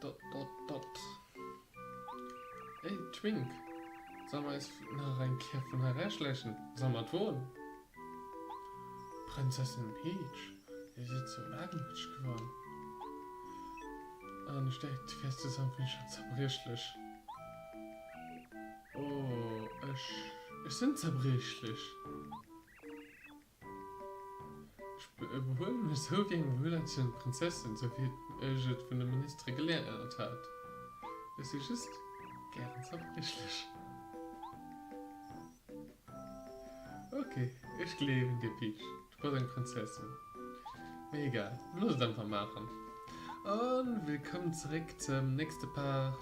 Dott, dott, dott. Hey Twink, soll mer eis nach eng Kéier vun hei ewechschläichen? Soll mer et woen? Prinzessin Peach, dir sidd sou wagemutteg geworden. An ech däicht, du wäers souwisou schonn zerbriechlech. Oh, ech, ech sinn zerbriechlech. Ech behuelen mech sou wéi eng wuelerziehend Prinzessin, sou wéi ech et vun de Ministere geléiert hat. Ech si just gären zerbriechlech. Ok, ech gleewen dir, Peach, du bass eng Prinzessin. Mee egal, looss et einfach maachen. A willkomm zeréck zum nächste Part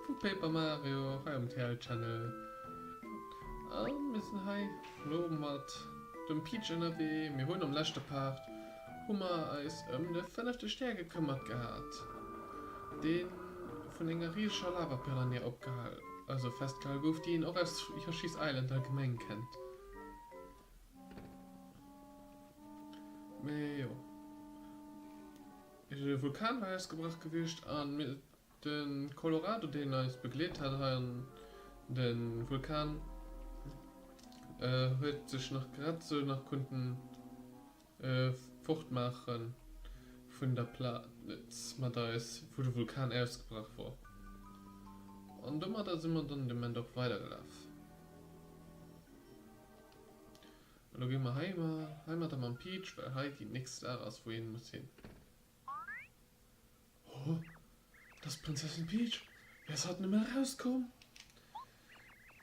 vu Paper Mario hei um TL Channel. A mir sinn hei. Elo mat dem Peach ënnerwee. Mir hunn am leschte Part hu mer eis ëm de fënnefte Stär gekëmmert gehat, dee vun enger riesescher Lavapiranha opgehal, also festgehal gouf, déi een och aus Yoshi's Island allgemeng kennt. Mee jo, de Vulkan war ausgebrach gewiescht a De Colorado deen eis begleet hat hei an de Vulkan huet sech nach grad esou nach kunnten fortmaache vun der Plaz mat eis wou de Vulkan ausgebrach wor an domadder si mer dann de Moment och weider gelaf an lo gi mer heimadder mam Peach well hei déi nächst Aach ass wou een muss hin. Oh, dass d'Prinzessin Peach, wéi ass hatt nëmme erauskomm?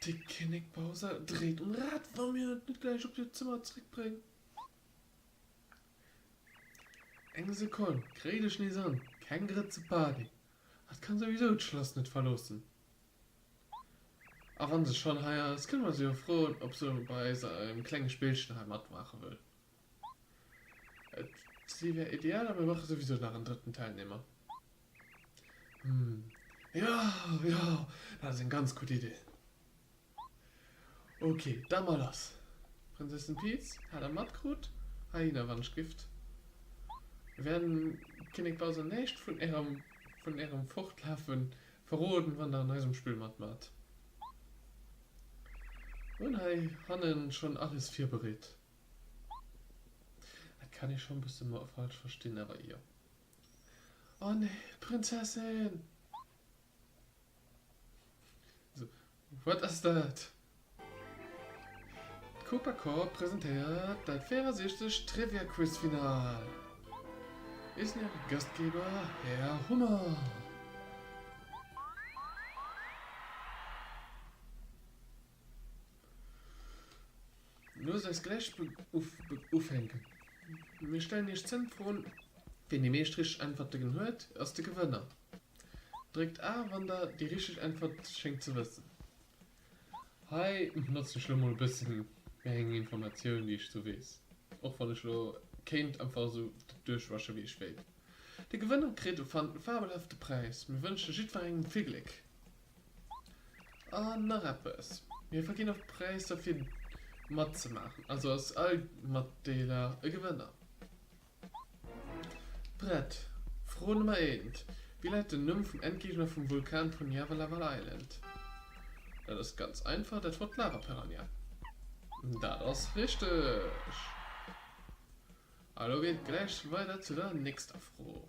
De Kinnek Bowser dréit um Rad, wa mir et net gläich op hiert Zëmmer zréckbréngen. Eng Sekonn, kréit ech nees an, keng Grëtze Party, hatt kann souwisou d'Schlass net verloossen. A wa se schonn hei ass, kënne mer se jo froen, ob se bei eiserem klenge Spillchen hei matmaache wëll. D'Idee wär ideal, a mir brauche souwisou nach en drëtten Teilnehmer. Hm, jo, jo, dat ass eng ganz gutt Idee. Ok, da mar lass. D'Prinzessin Peach hat am matkrut, Hyenawanschgift. Mir wäerten Kinnek Bowser näischt vun ärem, vun ärem Fortlafe verroden, wann der an eisem Spill matmaacht. Mir hunn hei hanne schonn alles virbereet. Et kann ee schon bësse mer falsch verstinn, awer jo. Oh nee, d'Prinzessin! So, wat ass dat? D'Koopa Corp presentéiert dat 64. Trivia-Quiz Final. Hie sinn äre Gastgeber Här Hummer. Loosst eis gläich ufänken. Mir stellen iech zéng Froen. Ween déi meescht richteg Äntwertegen huet, ass de Gewënner. Dréckt A, wann der déi richteg Äntwert schéngt ze wëssen. Hei notzt ech lo mol e bësse méi eng Informatioun, déi ech sou weess, och wann ech lo kéint einfach esou duerchwasche wéi ech wéilt. De Gewënner kritt e fabelhafte Präis. Mir wënschen jiddwerengem vill Gléck! An nach eppes, Mir verginn och Präisser fir matzemaachen, also ass all Matdeeler e Gewënner. Brett, Fro Nummer eent, Wéi läit den Numm vum Endgegner vum Vulkan vun Java Lava Island? Dat ass ganz einfach, dat wor d'Lava Piranha. Dat ass richteg. A lo geet et gläich weider zu der nächster Fro.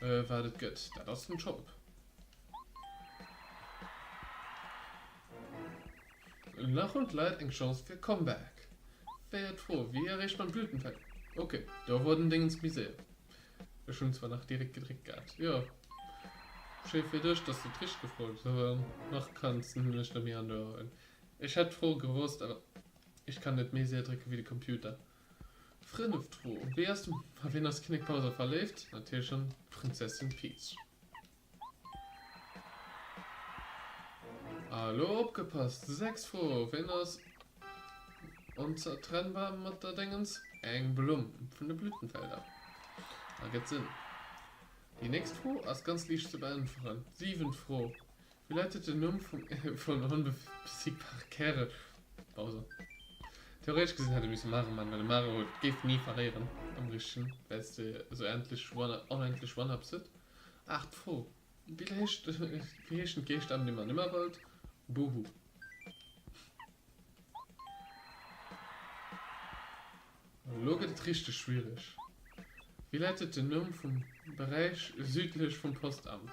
Wat et gëtt, dat ass den Shop. Nach hunn d'Leit eng Chance fir e Comeback. Wär d'Fro, wéi erreecht mer d'Blütenfeld? Ok, do wor den Déngens méi séier. Ech hunn zwar nach direkt gedréckt gehat. Jo, schéi fir dech, dass du et richteg gefrot hues, awer nach kanns de nämlech net méi an d'Ouer huelen. Ech hätt d'Fro gewosst, awer ech kann net méi séier drécke wéi de Computer. Fënneft Fro, Wéi ass den, a wien ass de Kinnek Palliser verléift? Natierlech an d'Prinzessin Peach. A lo opgepasst, sechs Fro, Wien ass onzertrennbar mat der Déngens, eng Blumm vun de Blütenfelder? Ergëtt Sënn. Déi nächst Fro ass ganz liicht ze beäntweren, siwent Fro, Wéi lautet den Numm vum ee vun den onbesiegbare Kären? Bowser. Theoretesch gesinn hätt e misse Mare man, well e Mare huet et géif ni verléieren am richtegen, well s de esou endlech onendlech One-Up s huet. Aach d'Fro, wéi heescht wéi heeschen d'Geeschter dem an Ëmmerwald? Boo-Hoo. Elo gëtt et richteg schwiereg. Wéi lautet den Numm vum Beräich südlech vum Postamt?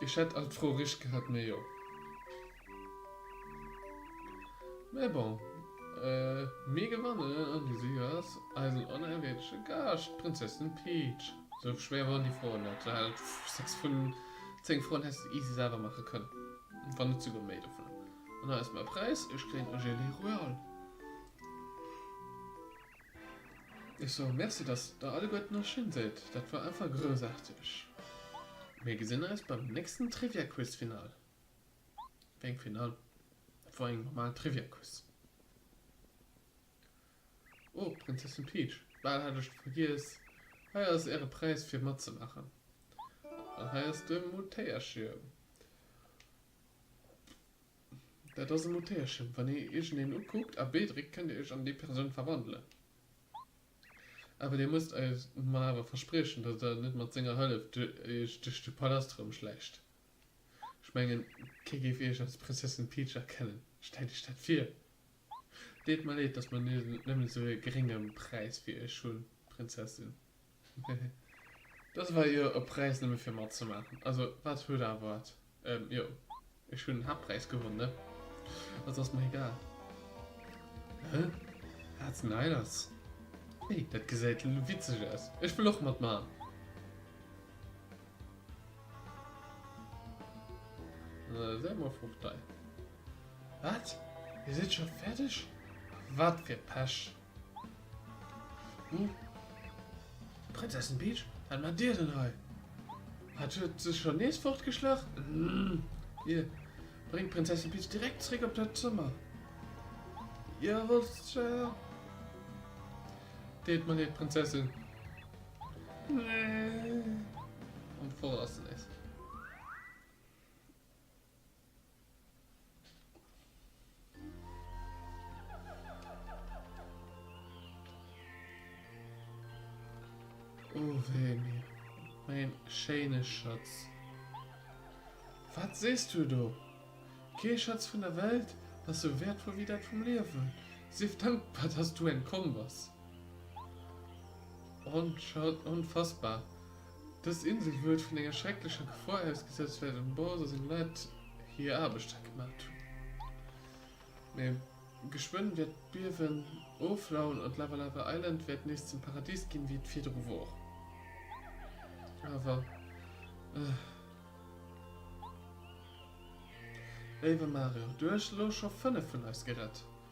Ech hätt all d'Froe richt gehat, mee jo. Mee bon, mir gewannen an de Sieger ass eisen onerwierdege Gaascht, d'Prinzessin Peach. Sou schwéier waren déi Froen net, du hätt 6 vun 10 Froen häss de easy selwer maache kënnen, wann net souguer méi dovunner. An hei ass mäi Präis, ech kréien e Gelee Royal. Ech soe Merci, dass Der alleguerten och schéin sidd. Dat war einfach groussaarteg. Mir gesinn eis beim nächsten Trivia-Quiz Final. Wéi eng Final? Dat war eng normal Trivia-Quiz. Oh, Prinzessin Peach, bal hat ech der vergiess. Hei ass Äre Präis fir matzemaachen. An hei ass de Moutéierchio. Dat ass e Motierchen, wann ee iergendeen ukuckt a B dréckt, kënnt Dir Iech an déi Persoun verwandelen. Awer Dir musst eis mer awer verspriechen, datt Der net mat senger Hëllef Iech duerch de Palast erëmschläicht. Ech mengen, kee géif Iech als Prinzessin Peach erkennen. Stellt Iech dat vir! Deet mer leed, datt mer nëmmen esou e gerénge Präis fir Iech hunn, Prinzessin. Dass war jo e Präis nëmme fir matzemaachen. Also wat huet awer wat. Jo ech hunn den Haaptpräis gewonn ne. Also ass mer egal. Hä wat den hei lass? Hey dat gesäit witzeg aus. Ech wëll och matmaachen. Säi mol frou Stei. Wat dir sidd scho fäerdeg? Wat fir Pech. Hm? Prinzessin Peach? Wat maacht Dir denn hei? Hat d'Hütt sech scho nees fortgeschlach? Hm. Dir bréngt d'Prinzessin Peach direkt zeréck op d'Hütt Zëmmer. Dir wollts zwar. Deet mer leed, Prinzessin. Nee. Am Voraus nees. Oh wéi mir meng schéine Schëtz! Wat sees du do? Kee Schëtz vun der Welt ass sou wäertvoll wéi dat vum Liewen. Sief dankbar, dass du entkomm bass. Onfassbar! Dës Insel huet vun enger schrecklecher Gefor ausgesëtzt well den Boss a seng Leit hier Aarbecht hei gemaacht hunn. Mee geschwënn wäert d'Biewen oflauen an d'Lava Lava Island wäert nees zum Paradis ginn wéi et virdru wor. Awer eh. Léiwe Mario, du hues elo scho 5 vun eis gerett.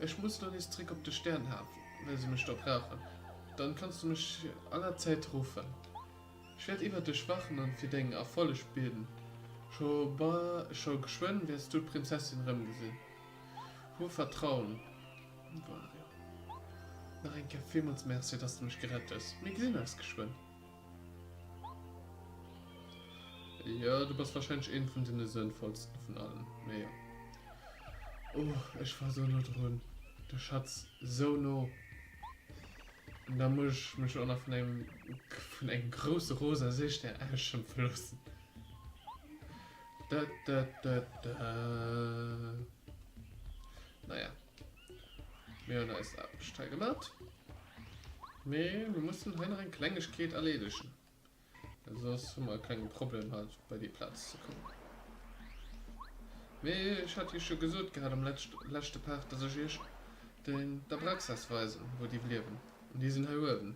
Ech muss lo nees zréck op de Sternhaf, well se mech do brauchen. Dann kanns du mech allerzäit ruffen. Ech wäert iwwert dech wachen an fir deng Erfolleg bieden. Scho ba, scho geschwënn wäers du d'Prinzessin erëmgesinn. Hu Vertrauen, Wario. Nach eng Kéier villmools Merci, dass de mech gerett hues. Mir gesinn eis geschwënn. Jo, du bass wahrscheinlech een vun den sënnvollsten vun allen, mee jo. Oh, ech war sou no drun, de Schatz sou no. An da muss ech mech och nach vun engem, vun engem grousse rosa Seestär ausschëmpfe loossen. Dä dä dä dä. Naja. Mir hunn eis Aarbecht hei gemat, mee mir mussen hei nach eng Klengegkeet erleedegen, well soss hu mer e klenge Problem hei bei déi Plaz ze kommen. Mee ech hat Iech jo gesot gehat am leschte Part, dass ech Iech den d'Abraxas weisen, wou déi liewen. An déi sinn hei uewen.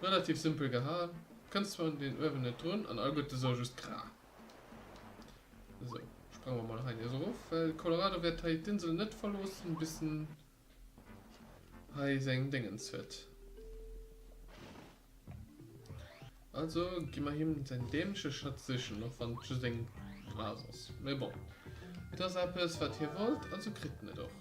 Relativ simpel gehal, kënnt zwar un deen uewen net drun an all gutt esou just graa. Esou, sprange mer mol hei nees erof, well de Colorado wäert hei d'Insel net verloossen bis en hei seng Déngens huet. Also gi mer him säin dämleche Schatz sichen, och wann et just eng Blas ass. Mee bon, et ass eppes wat hie wollt, also kritt en et och.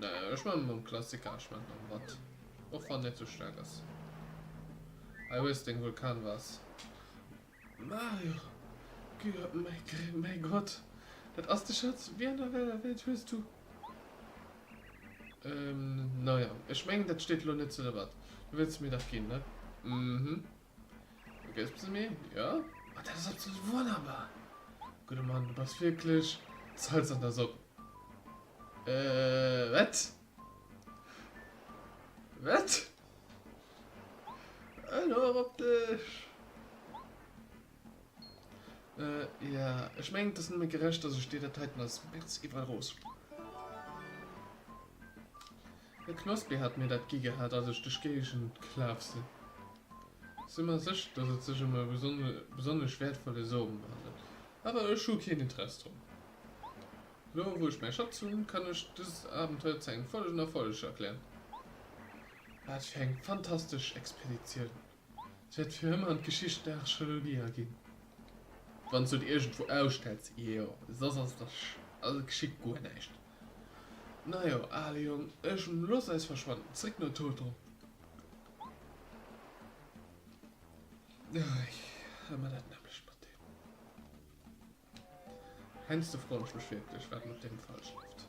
Naja ech man mam Klassiker, ech man mam Watt och wann net sou staark ass. Hei hues deng Vulkanvase. Mario, Gud, mäi Gott, dat ass de Schatz, wéi an der wéller Welt hues du. Naja ech mengen dat steet elo net zur Debatt, du wëlls se mir dach ginn, ne? Mhmh. Ok ass besse méi jo. Ma dat ass absolut wonnerbar! Gudde Mann, du bass wierklech d'Salz an der Sopp. Äh, wat? Wat? Elo erop op dech! Äh, ja, ech mengen et ass nëmme gerecht, dass ech dir dat heiten als Merc iwwerlooss. E Knospi hat mir dat gi gehat, als ech duerch d'Géigend gelaf sinn. Si mer sécher, dass et sech ëm e besonnesch wäertvolle Som handelt, awer ech hu keen Interess drun. Elo wou ech mäi Schatz hunn, kann ech dëst Abenteuer zu engem vollegen Erfolleg erklären. Wat fir eng fantastesch Expeditioun! Se wäert fir ëmmer an d'Geschicht der Archeologie aginn, wann se et iergendwou ausstellt, jo, soss ass der Geschicht guer näischt. Najo, ale Jong, ech looss eis verschwannen, zréck no Toto. Hei hu mer dat nämmlecht mat deem. Heiansdo froen ech mech wierklech, wat mat deem falsch läuft.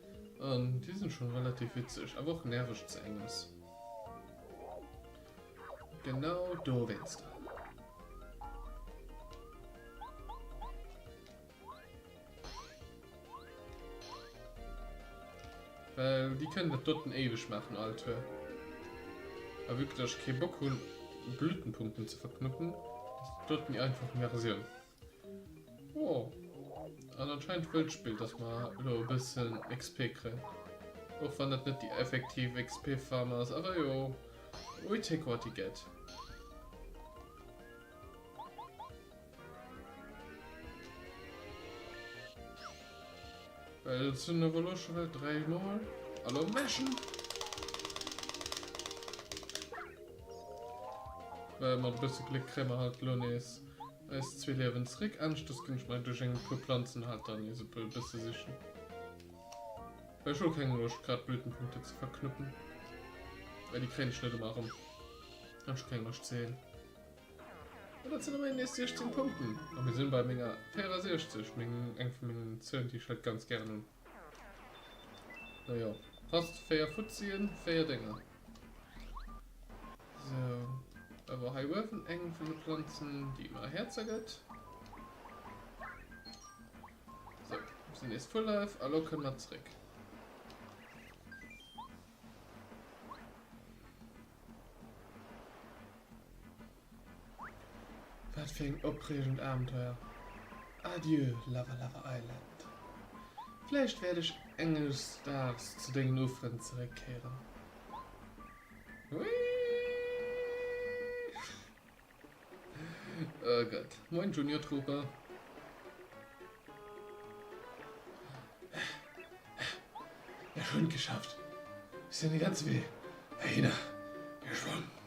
An déi sinn schon relativ witzeg, awer och nerveg ze enges. Genau dowéinster. Well déi kënnen dat doten éiweg maachen, all Tour. A vu que ech kee Bock hunn Blütenpunkten ze verknoppen, ass dat doten déi einfach Versioun. Oh, an anscheinend wëll d'Spill, dass mer elo e bëssen XP kréien. Och wann dat net déi effektiv XP-Farm ass, awer jo, we take what you get. Well et sinn awer elo scho wäit 3 Mol. Hallo Mäschen! Well mat e bësse Gléck kréie mer halt elo nees. Eis zwee Liewen zeréck. Anescht dës ginn ech mei duerch eng puer Planzen halt dann nees e puer bësse sichen, well ech hu keng Loscht grad Blütenpunkten ze verknuppen, well déi kréien ech net ëmmer erëm an ech hu keng Loscht ze heelen. An dat sinn e mei nees 16 Punkten a mir sinn bei menger 64, meng eng vun mengen Zëhlen déi ech halt ganz gären hunn. No jo, passt, 4 Fuzzien, 4 Dénger. Sou, da war hei uewen eng vun de Planzen, déi mer Häerzer gëtt. Sou, sinn nees Full Life a lo kënne mer zréck. Wat fir eng opreegend Abenteuer. Adieu Lava Lava Island. Vläicht wäert ech enges Daags zu dengen Uferen zeréckkéieren. Wee? Oh Gott. Moin Junior Trooper. Ech hunn et geschafft. Ech sinn de ganze Wee heihinner geschwommen.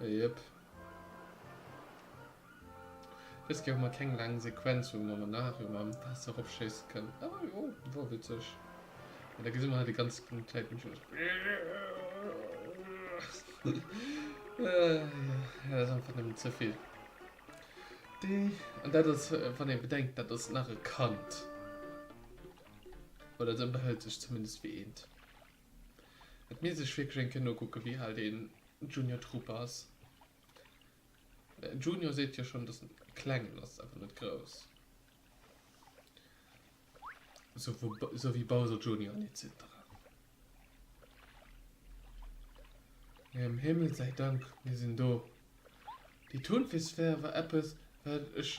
Jep. Wéist gär mer keng laang Sequenz hunn an danach ëmmer am Waasser eropschéissen kënnen. Ah jo, wor witzeg. Mee da gesi mer hei déi ganz Zäit nëmmen just. Jo, dat ass einfach nëmmen ze vill. An dat ass, wann ee bedenkt, dat ass nach e Kand. Oder et ënnerhält sech zumindest wéi eent. Et misst ee sech wierklech eng Kéier nokucken, wéi al dee Junior Troupe ass. Junior seet jo schonn, datt en kleng ass, ass awer net grouss, sou wéi Bowser Junior an etcetera. Mee ëm Himmel säi Dank, mir sinn do. Déi Tonvissphär war eppes, wat ech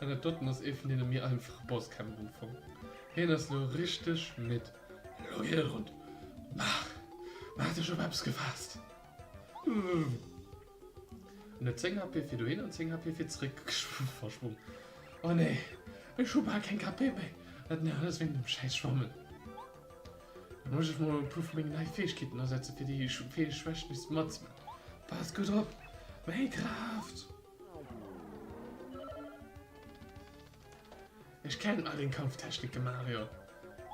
An dat doten ass ee vun deene méi einfache Bosskämpf um Fong. Hien ass lo richteg midd. Elo geet et run. Maach! Maach dech op eppes gefaasst! Wuumm! En huet 10 HP fir dohin an 10 HP fir zeréck verschwommen. Oh nee! Ech hu bal keng KP méi! Dat mär alles wéinst dem schäiss Schwammen. Da muss ech mol e puer vu mengen neie Fäegkeeten asetze fir déi Fäegschwächt nees ze matzen. Pass gudd op meng Kraaft! Ech kennen all deng Kampftechniken, Mario.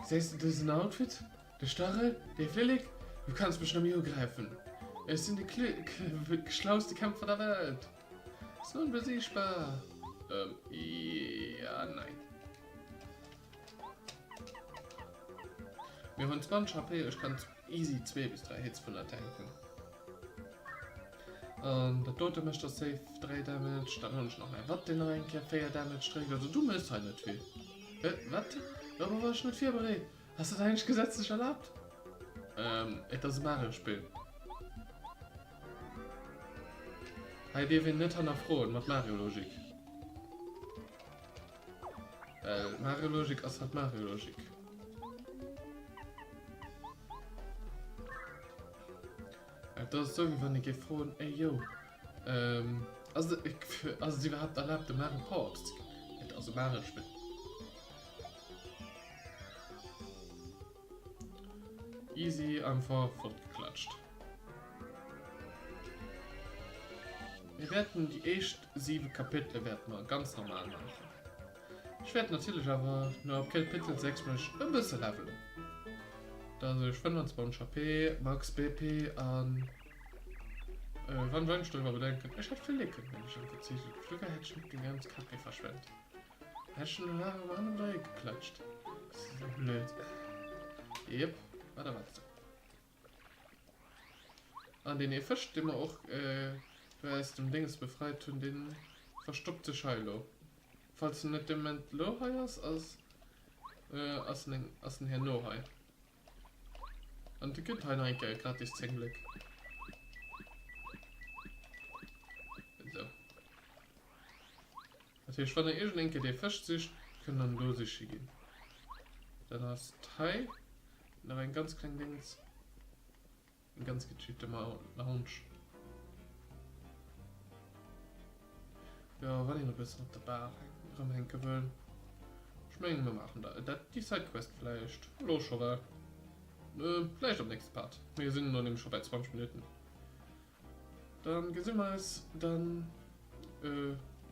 Gesäis de dësen Outfit? De Stachel? Dee Flillek? Du kanns mech nëmme ugräifen. Ech sinn de schlauste Kämpfer der Welt! Sonbesiegbar! Ähm, jo, nein. Mir hunn 20 HP, ech kann easy zwee bis dräi Hits vun der Tank hunn. An dat dote mécht der safe 3 Damage, dann hunn ech nach mäi Watt deen nach eng Kéier 4 Damage dréckt, also du méchs hei net vill. Hä? Wat? Dorobber war ech net virbereet. Ass dat eigentlech gesetzlech erlaabt? Ähm, et ass e Mario-Spill. Hei dierf een net hannerfroen, mat Mario-Logik. Well Mario Logik ass halt Mario Logik. Et ass esou wéi wann ee géif froen, ey yo, ähm, ass et, ass et iwwerhaapt erlaabt de Mario Power-Ups ze ginn? Et ass e Mario-Spill. Easy einfach vollgeklatscht. Mir wäerten déi éischt 7 Kapitele wäerte mer ganz normal maachen. Ech wäert natierlech awer no ab Kapitel 6 mech e bësse levelen, dass ech 25 HP, max. BP an wann wann ech dorüwer bedenken ech hätt vill Liken wann ech am PC sinn, virdu war hätt ech net déi ganz KP verschwent. Ech hun hun awer hannendrun dréi geklëtscht. Ass dat esou blöd? Jep, wat erwaarts du? An deen ee Fësch, dee mer och do aus dem Dénges befreit hun, dee verstoppt sech hei elo. Falls en net dee Moment elo hei ass, ass en herno hei. An de kritt hei nach eng Kéier gratis 10 Bléck. Esou. Dat heescht, wann der iergendeng Kéier dee Fësch sicht, kënnt dann do siche ginn. Dann ass et hei nach eng ganz kleng Dings, eng ganz gechillten Lounge. Jo, wann een e bëssen op der Bar erëmhänke wëll. Ech mengen, mir maachen dat, déi Sidequest vläicht elo scho. Well, vläicht am nächste Part. Mir sinn elo nämlech scho bei 20 Minutten. Dann gesin mer eis dann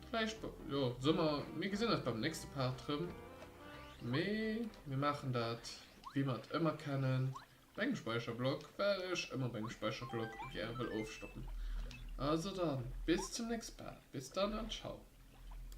vläicht jo Summer. Mir gesin eis beim nächste Part rem. Mee mir maachen dat wéi mer et ëmmer kennen, op engem Speicherblock, well ech ëmmer op engem Speicherblock gäre wëll ofstoppen. Also dann bis zum nächste Part. Bis dann an ciao.